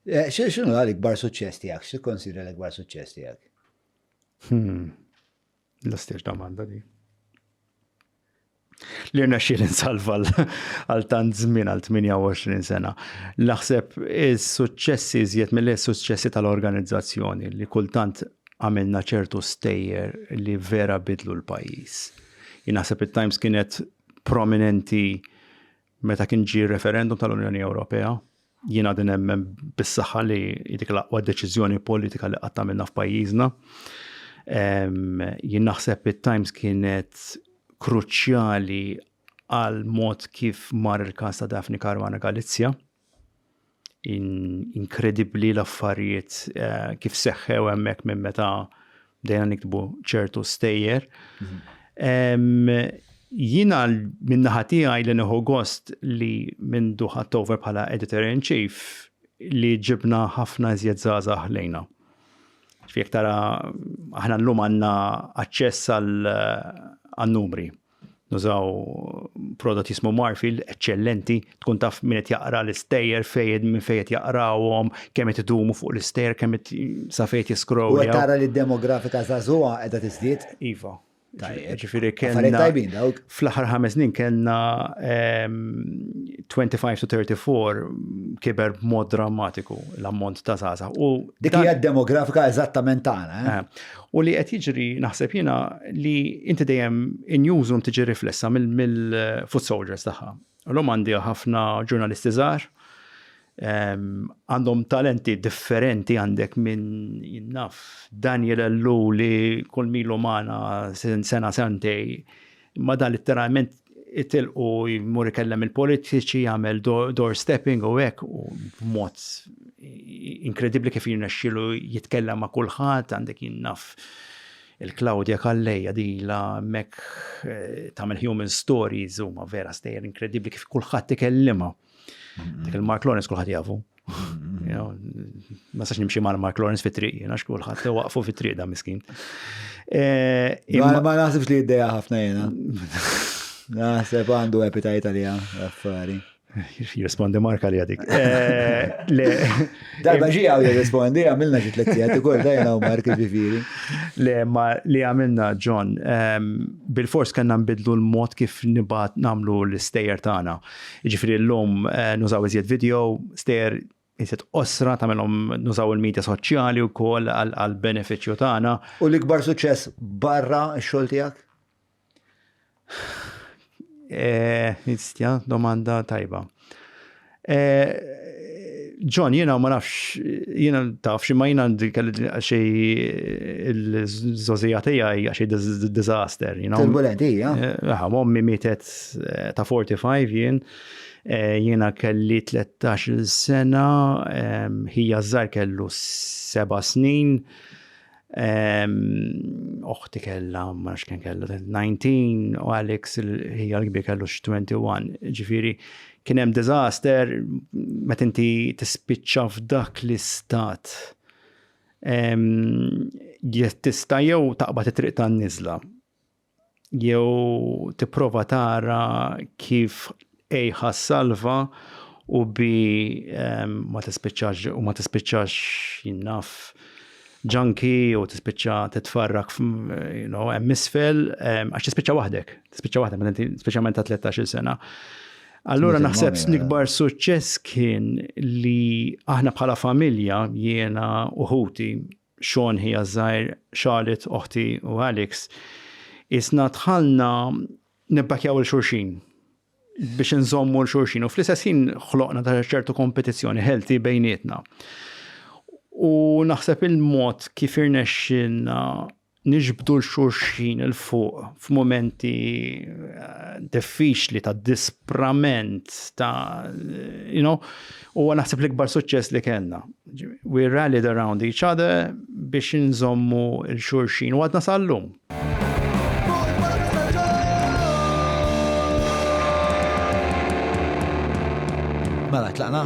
X'inhu l-ikbar suċċess tiegħek? X'tikkonsidra l-ikbar suċċess tiegħek? Hmm. L-istess domanda di. Li rna xil insalva għal tant żmien għal 28 sena. Naħseb is-suċċessi żjed mill-suċċessi tal-organizzazzjoni li kultant għamilna ċertu stejjer li vera bidlu l-pajis. Jinaħseb il-Times kienet prominenti Meta kien ġie r-referendum tal-Unjoni Ewropea, jien għadin nemmen bis-saħħa li dik l-aqwa deċiżjoni politika li qatta minna f'pajjiżna. Jien naħseb it-Times kienet kruċjali għal mod kif mar il-każ ta' Daphne Caruana Galizja. inkredibbli l-affarijiet eh, kif seħħew hemmhekk minn meta bdejna niktbu ċertu stejjer. Jina minn naħa tiegħi li neħu gost li minn duħat over bħala editor in chief li ġibna ħafna iżjed żgħażagħ lejna. Fiek tara aħna llum għandna aċċess għal numri. Uh, Nużaw prodott jismu Marfil, eċċellenti, tkun taf min qed jaqra l-istejjer fejn minn fejn qed jaqrawhom, kemm qed idumu fuq l-istejjer, kemm qed sa fejn qed jiskrow. U qed tara li d-demografika żagħżugħa qiegħda tiżdied? Iva. Ġifieri kellna. tajbin dawk. Fl-aħħar ħames snin kellna 25 to 34 kiber b'mod drammatiku l-ammont ta' żgħażagħ. Dik hija d-demografika eżattament tagħna. U li qed jiġri naħseb jiena li inti dejjem in-newsroom tiġi riflessa mill-foot soldiers tagħha. L-lum għandi ħafna ġurnalisti żgħar, ehm, għandhom talenti differenti għandek minn jinnaf Daniel Ellu li kull milu magħna sena sentej Imma dan litteralment itilqu jmur ikellem il-politiċi, jagħmel doorstepping u hekk u b'mod inkredibbli kif jirnexxilu jitkellem ma' kulħadd għandek jinnaf il-Claudia Kalleja di la mek eh, tagħmel human stories huma vera stejjer inkredibbli kif kulħadd ikellimha. Dik il-Mark Lawrence kulħadd jafu. Ma sax nimxi mal Mark Lawrence fit triq jiena xkulħadd waqfu fit triq da miskin. Eh, ma naħsibx li id-deja ħafna jiena. Naħseb għandu epitajt għalija, affari. Jirrispondi marka li għadik. Eh, Darba ġi għaw jirrispondi, għamilna ġi t-lettijat, kol dajna u marki ġifiri. Le, ma li għamilna, John, ehm, bil-fors kanna nbidlu l-mod kif nibat namlu l-istejer tana. Jiġifieri llum nużaw iżjed video, stejjer iżjed qosra tagħmilhom nużaw il-media soċjali wkoll għall-benefiċċju tagħna. U l-ikbar suċċess barra x-xogħol tiegħek? Nistja, eh, domanda tajba. Eh, John, jena ma nafx, jena taf, xie ma jena xie il-zozija tijaj, xie dizaster, you know. Turbulenti, ja. Eh, Għaha, mommi mietet ta' 45 jien, eh, jiena kelli 13 sena, ħija żgħar kellu seba' snin, oħti kellha ma nafx kien kellu 19 u Alex ħija l-kbir kellu 21. Ġifieri kien hemm diżaster meta inti tispiċċa f'dak l-istat tista' jew taqbad it-triq tan-niżla jew tipprova tara kif ej ħassalva u bi ehm, ma tispiċċax u ma tispiċċax jinnaf ġanki u tispiċċa titfarrak you know, hemm isfel ehm, għax tispiċċa waħdek, tispiċċa waħdek meta inti speċjalment ta' 13-il sena. Allura naħseb l-ikbar eh. suċċess kien li aħna bħala familja jiena uħuti Shawn ħija ż-żgħir, Charlotte oħti u Alex, qisna dħalna nibbakjaw 'il xulxin biex inżommu 'l xulxin u fl-istess ħin ħloqna ta' ċertu kompetizzjoni healthy bejnietna. U naħseb il-mod kif irnexxilna niġbdu l-xulxin il fuq f'momenti eh, diffiċli ta' disprament ta' you know, u naħseb l-ikbar suċċess li kellna. We rallied around each other biex nżommu l-xurxin u għadna sal-lum. Mela, tlaqna?